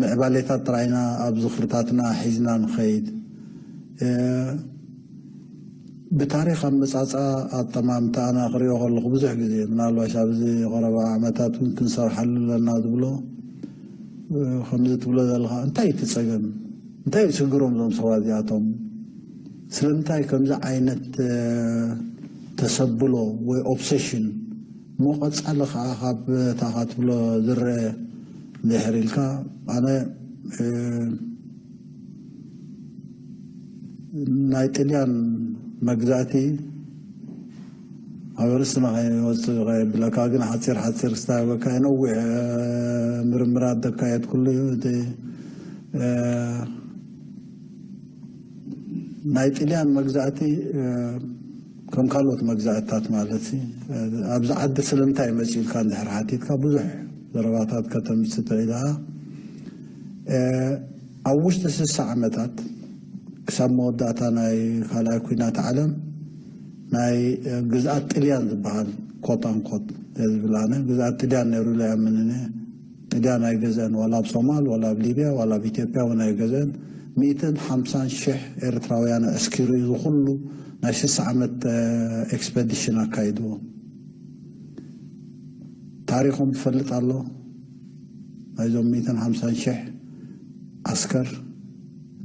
ምዕባሌታት ጥራይና ኣብ ዝኽርታትና ሒዝና ንኸይድ። ብታሪኽ ኣመጻጽኣ ኣጠማምታኣና ክሪኦ ከለኹ ብዙሕ ግዜ ምናልባሽ ኣብዚ ቐረባ ዓመታት እውን ክንሰርሓሉ ኣለና ዝብሎ ከምዚ ትብሎ ዘለኻ እንታይ እቲ ጸገም እንታይ እዩ ችግሮም እዞም ሰባት እዚኣቶም ስለምንታይ ከምዚ ዓይነት ተሰብሎ ወይ ኦብሴሽን ንቐጻሊ ከኣ ካብ እታ ከትብሎ ዝረኤ ድሕር ኢልካ ኣነ ናይ ጥልያን መግዛእቲ ኣብ ርእስና ከይወጽእ ከየብለካ ግን ሓጺር ሓጺር ክስታበካ እየ ነዊሕ ምርምራት ዘካየድኩሉ እዩ እቲ ናይ ጥልያን መግዛእቲ ከም ካልኦት መግዛእትታት ማለትሲ ኣብዚ ዓዲ ስለምንታይ እዩ መፂኡ ኢልካ እንድሕር ሓቲትካ ብዙሕ ዘረባታት ከተምፅእ ትኽእል ኢኻ። ኣብ ውሽጢ ስሳ ዓመታት ክሳብ መወዳእታ ናይ ካልኣይ ኲናት ዓለም ናይ ግዝኣት ጥልያን ዝበሃል ኮት ኣንኮት ዝብል ኣነ ግዝኣት ጥልያን ነይሩ ኢለ ኣይኣምንን እየ። ግዳን ኣይገዘእን ዋላ ኣብ ሶማል ዋላ ኣብ ሊብያ ዋላ ኣብ ኢትዮጵያ ውን ኣይገዘእን ሚእትን ሓምሳን ሽሕ ኤርትራውያን ኣዕስኪሩ እዩ እዚ ኩሉ ናይ ስሳ ዓመት ኤክስፐዲሽን ኣካይድዎም ታሪኾም ዝፈልጥ ኣሎ ናይዞም ሚእትን ሓምሳን ሽሕ ዓስከር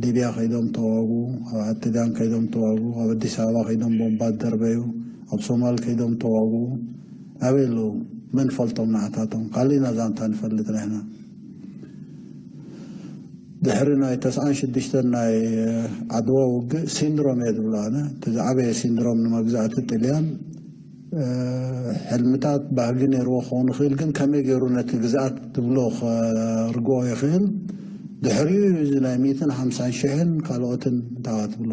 ሊብያ ከይዶም ተዋጉ ኣብ ዓድጋን ከይዶም ተዋጉ ኣብ ኣዲስ ኣበባ ከይዶም ቦምባ ደርበዩ ኣብ ሶማል ከይዶም ተዋጉ ኣበይ ኣለዉ መን ፈልጦም ንዓታቶም ካሊእና ዛንታ ንፈልጥ ንሕና ድሕሪ ናይ ተስዓን ሽዱሽተን ናይ ዓድዋ ውግእ ሲንድሮም እየ ዝብሎ ኣነ እቲ ዝዓበየ ሲንድሮም ንመግዛእቲ ጥልያን ሕልምታት ባህጊ ነይርዎ ክኸውን ይኽእል ግን ከመይ ገይሩ ነቲ ግዝኣት ትብሎ ከርግኦ ይኽእል ድሕሪኡ እዚ ናይ ሚትን ሓምሳን ሽሕን ካልኦትን እንታዋ ትብሎ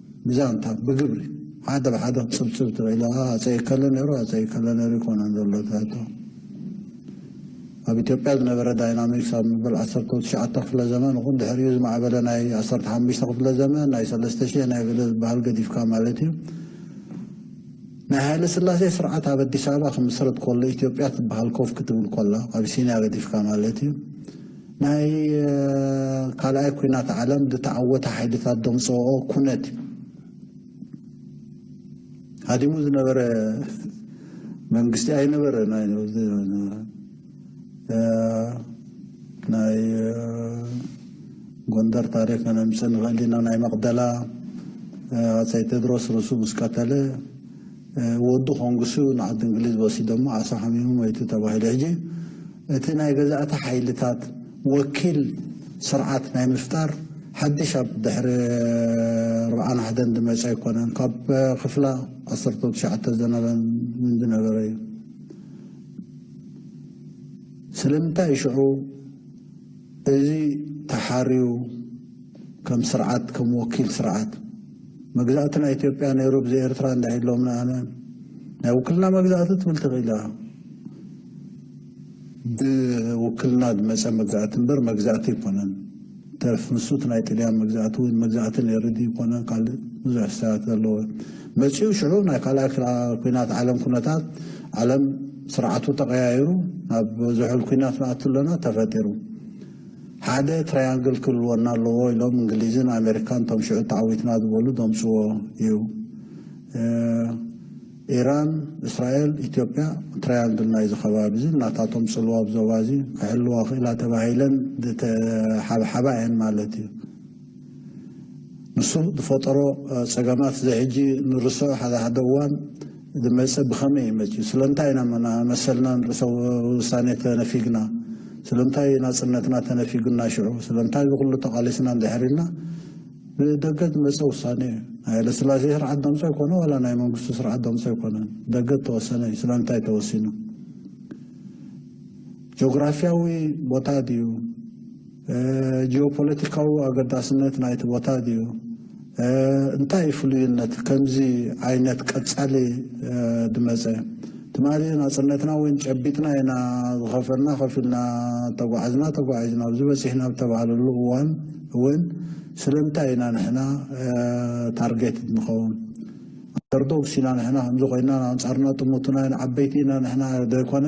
ብዛንታ ብግብሪ ሓደ ብሓደ ክትጽብጽብ ትኽእል ኢኻ። ሃጸይ እከለ ነይሩ፣ ሃጸይ እከለ ነይሩ ኣይኮነን ዘሎ እቲ ሕቶ። ኣብ ኢትዮጵያ ዝነበረ ዳይናሚክስ ኣብ መበል ዓሰርተው ትሽዓተ ክፍለ ዘመን ይኹን ድሕሪኡ ዝማዕበለ ናይ ዓሰርተ ሓሙሽተ ክፍለ ዘመን ናይ ሰለስተ ሽሕ ናይ ገለ ዝበሃል ገዲፍካ ማለት እዩ ናይ ሃይለስላሴ ስርዓት ኣብ ኣዲስ ኣበባ ክምስረት ከሎ ኢትዮጵያ ትበሃል ኮፍ ክትብል ከላ ኣቢሲንያ ገዲፍካ ማለት እዩ ናይ ካልኣይ ኩናት ዓለም ዝተዓወተ ሓይልታት ዘምጽኦ ኩነት ሃዲሙ ዝነበረ መንግስቲ ኣይነበረ ናይ ጎንደር ታሪክ ከነምፅእ ንኽእል ኢና ናይ መቕደላ ኣፀይ ቴድሮስ ርእሱ ምስ ቀተለ ወዱ ኮንግሱ ንዓዲ እንግሊዝ ወሲዶሞ ዓሳ ሓሚሙ ሞይቱ ተባሂሉ ሕጂ እቲ ናይ ገዛእቲ ሓይልታት ወኪል ስርዓት ናይ ምፍጣር ሓድሽ ኣብ ድሕሪ ኣርብዓን ሓደን ዝመፀ ኣይኮነን ካብ ክፍላ ዓሰርተ ትሽዓተ ዝነበን ዝነበረ እዩ ስለምንታይ ሽዑ እዚ ተሓርዩ ከም ስርዓት ከም ወኪል ስርዓት መግዛእቲ ናይ ኢትዮጵያ ነይሩ ብዘይ ኤርትራ እንድዒ ኢሎምና ኣነ ናይ ውክልና መግዛእቲ ትብል ተኺኢላ ብውክልና ዝመፀ መግዛእቲ እምበር መግዛእቲ ኣይኮነን ተርፍ ንሱ እቲ ናይ ጥልያን መግዛእቲ ወይ መግዛእቲ ነይሩ ድዩ ይኮነን ካልእ ብዙሕ ሕሳባት ዘለዎ መፂኡ ሽዑ ናይ ካልኣይ ኩናት ዓለም ኩነታት ዓለም ስርዓቱ ተቐያይሩ ናብ ዝሑል ኩናት ንኣቱ ኣለና ተፈጢሩ ሓደ ትራያንግል ክህልወና ኣለዎ ኢሎም እንግሊዝን ኣሜሪካን እቶም ሽዑ ተዓዊትና ዝበሉ ዘምጽዎ እዩ። ኢራን፣ እስራኤል፣ ኢትዮጵያ ትራያንግል ናይዚ ከባቢ እዚ ናታቶም ጽልዋ ኣብ ዞባ እዚ ክሕልዋ ክኢላ ተባሂለን ዝተሓብሓባ እየን ማለት እዩ። ንሱ ዝፈጠሮ ጸገማት እዚ ሕጂ ንርስዖ ሓደ ሓደ እዋን ዝመጽእ ብኸመይ እዩ መጺኡ? ስለምንታይ ኢና መሰልናን ርእሰ ውሳኔ ተነፊግና? ስለምንታይ እዩ ናጽነትና ተነፊጉና ሽዑ? ስለምንታይ እዚ ኩሉ ተቓሊስና እንድሕር ኢልና ብደገ ዝመጸ ውሳኔ እዩ። ናይ ሃይለስላሴ ስርዓት ደምጾ ኣይኮነ ዋላ ናይ መንግስቱ ስርዓት ደምጾ ኣይኮነ ደገ ተወሰነ እዩ። ስለምንታይ ተወሲኑ? ጆግራፍያዊ ቦታ ድዩ? ጂኦፖለቲካዊ ኣገዳስነት ናይቲ ቦታ ድዩ? እንታይ እዩ ፍሉይነት ከምዚ ዓይነት ቀጻሊ ድመጸ? ትማሊ ናጽነትና ወይን ጨቢጥና ኢና፣ ዝኸፈልና ከፊልና፣ ተጓዕዝና ተጓዒዝና ኣብዚ በጺሕና ኣብ ተባህለሉ እዋን እውን ስለምንታይ ኢና ንሕና ታርጌትድ ንኸውን? ኣንደርዶግስ ኢና ንሕና ከምዚ ኮይና ንኣንጻርና ጥሙቱና ኢና ዓበይቲ ኢና ንሕና ዶ ኣይኮነ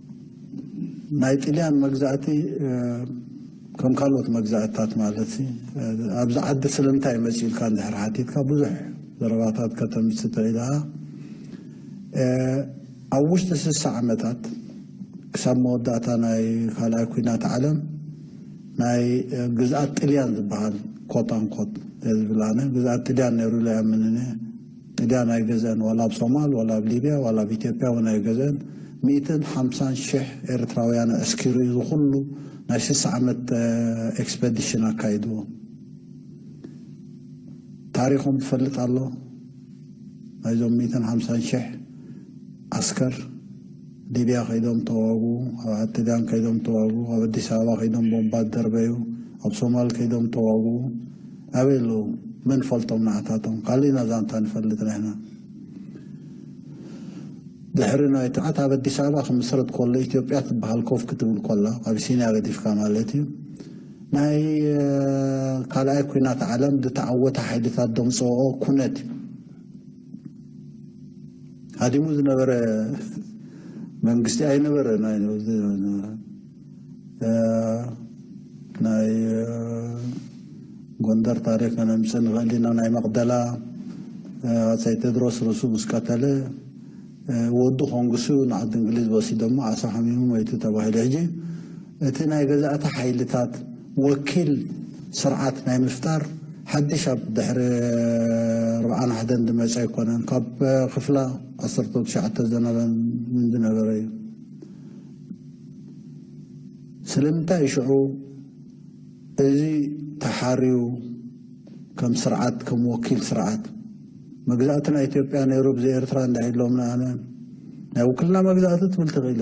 ናይ ጥልያን መግዛእቲ ከም ካልኦት መግዛእትታት ማለት ኣብዚ ዓዲ ስለምንታይ እዩ መፂኡ ኢልካ እንድሕር ሓቲትካ ብዙሕ ዘረባታት ከተምፅእ ትኽእል ኢኻ። ኣብ ውሽጢ ስሳ ዓመታት ክሳብ መወዳእታ ናይ ካልኣይ ኩናት ዓለም ናይ ግዝኣት ጥልያን ዝበሃል ኮት ኣንኮት እየ ዝብል ኣነ ግዝኣት ጥልያን ነይሩ ኢለ ኣይኣምንን እየ ጥልያን ኣይገዘእን ዋላ ኣብ ሶማል ዋላ ኣብ ሊብያ ዋላ ኣብ ኢትዮጵያ ውን ኣይገዘእን ሚእትን ሓምሳን ሽሕ ኤርትራውያን ኣዕስኪሩ እዩ እዚ ኩሉ ናይ ስሳ ዓመት ኤክስፐዲሽን ኣካይድዎ ታሪኾም ዝፈልጥ ኣሎ ናይዞም ሚእትን ሓምሳን ሽሕ ዓስከር ሊብያ ከይዶም ተዋጉ ኣብ ጥልያን ከይዶም ተዋጉ ኣብ ኣዲስ ኣበባ ከይዶም ቦምባ ደርበዩ ኣብ ሶማል ከይዶም ተዋጉ ኣበይ ኣለዉ መን ፈልጦም ንዓታቶም ካሊእና ዛንታ ንፈልጥ ንሕና ድሕሪ ናይ ትዓት ኣብ ኣዲስ ኣበባ ክምስረት ኮሎ ኢትዮጵያ ትበሃል ኮፍ ክትብል ኮላ ኣቢሲንያ ገዲፍካ ማለት እዩ ናይ ካልኣይ ኩናት ዓለም ዝተዓወተ ሓይልታት ደምፅኦ ኩነት እዩ ሃዲሙ ዝነበረ መንግስቲ ኣይነበረ ናይ ጎንደር ታሪክ ከነምፅ ንኽእል ኢና ናይ መቅደላ ኣፀይ ቴድሮስ ርእሱ ምስ ቀተለ ወዱ ኮንግሱ ንዓዲ እንግሊዝ ወሲዶሞ ዓሳ ሓሚሙ መይቱ ተባሂሉ ሕጂ እቲ ናይ ገዛእቲ ሓይልታት ወኪል ስርዓት ናይ ምፍጣር ሓድሽ ኣብ ድሕሪ ርብዓን ሓደን ዝመፀ ኣይኮነን ካብ ክፍላ ዓሰርተ ትሽዓተ ዝነበረ እዩ ስለምንታይ ሽዑ እዚ ተሓርዩ ከም ስርዓት ከም ወኪል ስርዓት መግዛእቲ ናይ ኢትዮጵያ ነይሩ ብዘይ ኤርትራ እንዳ ኢሎምና ኣነ ናይ ውክልና መግዛእቲ ትብል ትኽእል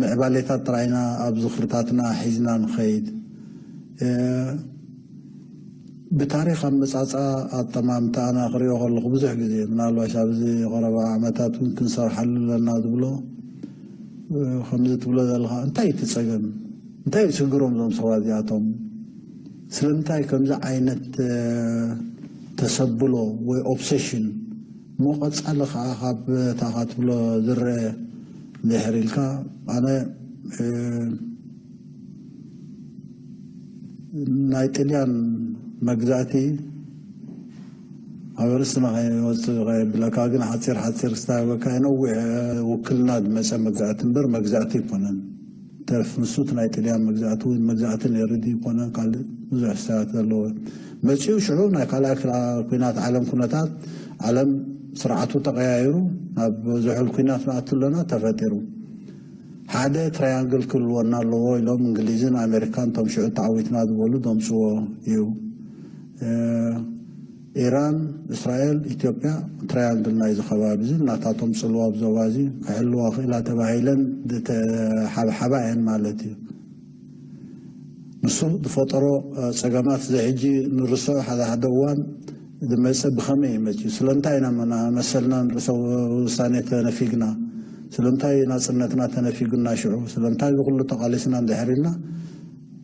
ምዕባሌታት ጥራይና ኣብ ዝኽርታትና ሒዝና ንኸይድ። ብታሪኽ ኣመጻጽኣ ኣጠማምታኣና ክሪኦ ከለኹ ብዙሕ ግዜ ምናልባሽ ኣብዚ ቐረባ ዓመታት እውን ክንሰርሓሉ ኣለና ዝብሎ ከምዚ ትብሎ ዘለኻ እንታይ እቲ ጸገም እንታይ እዩ ችግሮም እዞም ሰባት እዚኣቶም ስለምንታይ ከምዚ ዓይነት ተሰብሎ ወይ ኦብሴሽን መቐጸሊ ከኣ ካብ እታ ከትብሎ ዝረኤ ድሕር ኢልካ ኣነ ናይ ጥልያን መግዛእቲ ኣብ ርእስና ከይወጽእ ከየብለካ ግን ሓጺር ሓጺር ስታበካ ነዊሕ ውክልና ዝመጸ መግዛእቲ እምበር መግዛእቲ ኣይኮነን። ተርፍ ንሱ እቲ ናይ ጥልያን መግዛእቲ ወይ ንመግዛእቲ ነይሪ ድዩ ኮነ ካልእ ብዙሕ ሕሳያት ዘለዎ መጺኡ ሽዑ ናይ ካልኣይ ኩናት ዓለም ኩነታት ዓለም ስርዓቱ ተቀያይሩ ናብ ዝሑል ኩናት ንኣቱ ኣለና ተፈጢሩ ሓደ ትራያንግል ክህልወና ኣለዎ ኢሎም እንግሊዝን ኣሜሪካን እቶም ሽዑ ተዓዊትና ዝበሉ ዘምጽዎ እዩ ኢራን፣ እስራኤል፣ ኢትዮጵያ ትራያንግል ናይዚ ከባቢ'ዚ ናታቶም ጽልዋ ኣብ ዞባ'ዚ ክሕልዋ ክኢላ ተባሂለን ዝተሓብሓባ እየን ማለት እዩ። ንሱ ዝፈጠሮ ጸገማት እዚ ሕጂ ንርስዖ ሓደ ሓደ እዋን ዝመጽእ ብኸመይ እዩ መጺኡ? ስለምንታይ ኢና መና መሰልናን ርእሰ ውሳኔ ተነፊግና? ስለምንታይ ናጽነትና ተነፊጉና ሽዑ? ስለምንታይ እዚ ኩሉ ተቓሊስና እንድሕር ኢልና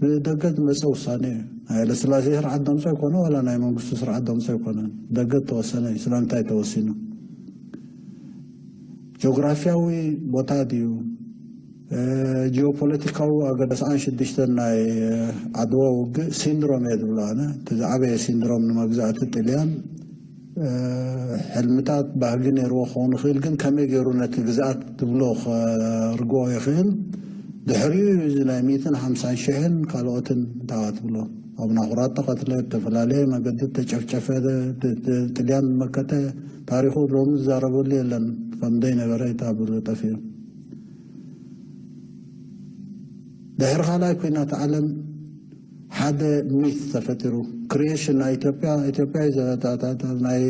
ብደገ ዝመጸ ውሳኔ እዩ። ናይ ሃይለስላሴ ስርዓት ደምጾ ኣይኮነ ዋላ ናይ መንግስቱ ስርዓት ደምጾ ኣይኮነን። ብደገ እተወሰነ እዩ። ስለምንታይ ተወሲኑ? ጆግራፍያዊ ቦታ ድዩ? ጂኦፖለቲካዊ ኣገደ ሰዓን ሽዱሽተን ናይ ዓድዋ ውግእ ሲንድሮም እየ ዝብሎ ኣነ። እቲ ዝዓበየ ሲንድሮም ንመግዛእቲ ጥልያን ሕልምታት ባህጊ ነይርዎ ክኸውን ይኽእል ግን ከመይ ገይሩ ነቲ ግዝኣት ትብሎ ከርግኦ ይኽእል ድሕሪኡ እዩ እዚ ናይ ሚእትን ሓምሳን ሽሕን ካልኦትን እንታዋ ትብሎ ኣብ ናኹራት ተቐትለ ብተፈላለየ መገዲ ተጨፍጨፈ ጥልያን መከተ ታሪኹ ሎሚ ዝዛረበሉ የለን ከም ዘይነበረ ይታብሉ ጠፊኡ ድሕሪ ካልኣይ ኩናት ዓለም ሓደ ሚት ተፈጢሩ ክሪኤሽን ናይ ኢትዮጵያ ኢትዮጵያ እዩ ዘረታታታ ናይ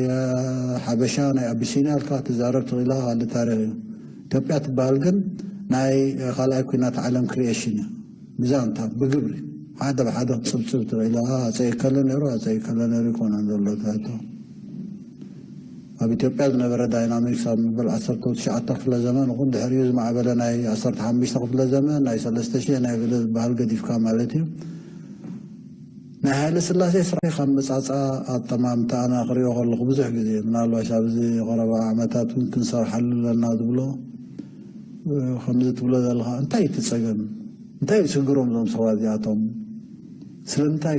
ሓበሻ ናይ ኣቢሲንያ ኢልካ ትዛረብ ትኽእል ኢኻ ካልእ ታሪኽ እዩ ኢትዮጵያ ትበሃል ግን ናይ ካልኣይ ኩናት ዓለም ክሪኤሽን እያ ብዛንታ ብግብሪ ሓደ ብሓደ ክትፅብፅብ ትኽእል ኢኻ ኣፀይ ከለ ነይሩ ኣፀይ ከለ ነይሩ ይኮነን ዘሎ ትሕቶ ኣብ ኢትዮጵያ ዝነበረ ዳይናሚክስ ኣብ መበል ዓሰርተው ትሽዓተ ክፍለ ዘመን ይኹን ድሕሪኡ ዝማዕበለ ናይ ዓሰርተ ሓሙሽተ ክፍለ ዘመን ናይ ሰለስተ ሽሕ ናይ በለ ዝበሃል ገዲፍካ ማለት እዩ ናይ ሃይለ ስላሴ ስራሕ ኣመጻጽኣ ኣጠማምታኣና ክሪኦ ከለኹ ብዙሕ ግዜ ምናልባሽ ኣብዚ ቐረባ ዓመታት እውን ክንሰርሓሉ ኣለና ዝብሎ ከምዚ ትብሎ ዘለኻ እንታይ እቲ ጸገም እንታይ እዩ ሽግሮም እዞም ሰባት እዚኣቶም ስለምንታይ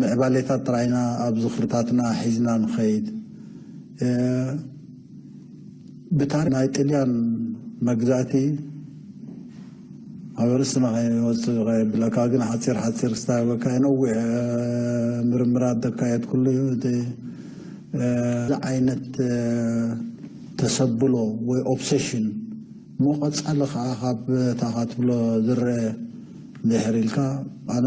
ምዕባሌታት ጥራይና ኣብ ዝኽርታትና ሒዝና ንኸይድ። ብታሪኽ ናይ ጥልያን መግዛእቲ ኣብ ርእስና ከይወጽእ ከየብለካ ግን ሓጺር ሓጺር ክስታበካ እየ ነዊሕ ምርምራት ዘካየድኩሉ እዩ እቲ እዚ ዓይነት ተሰብሎ ወይ ኦብሴሽን ንቐፃሊ ከዓ ካብ እታ ካትብሎ ዝረኣ ድሕር ኢልካ ኣነ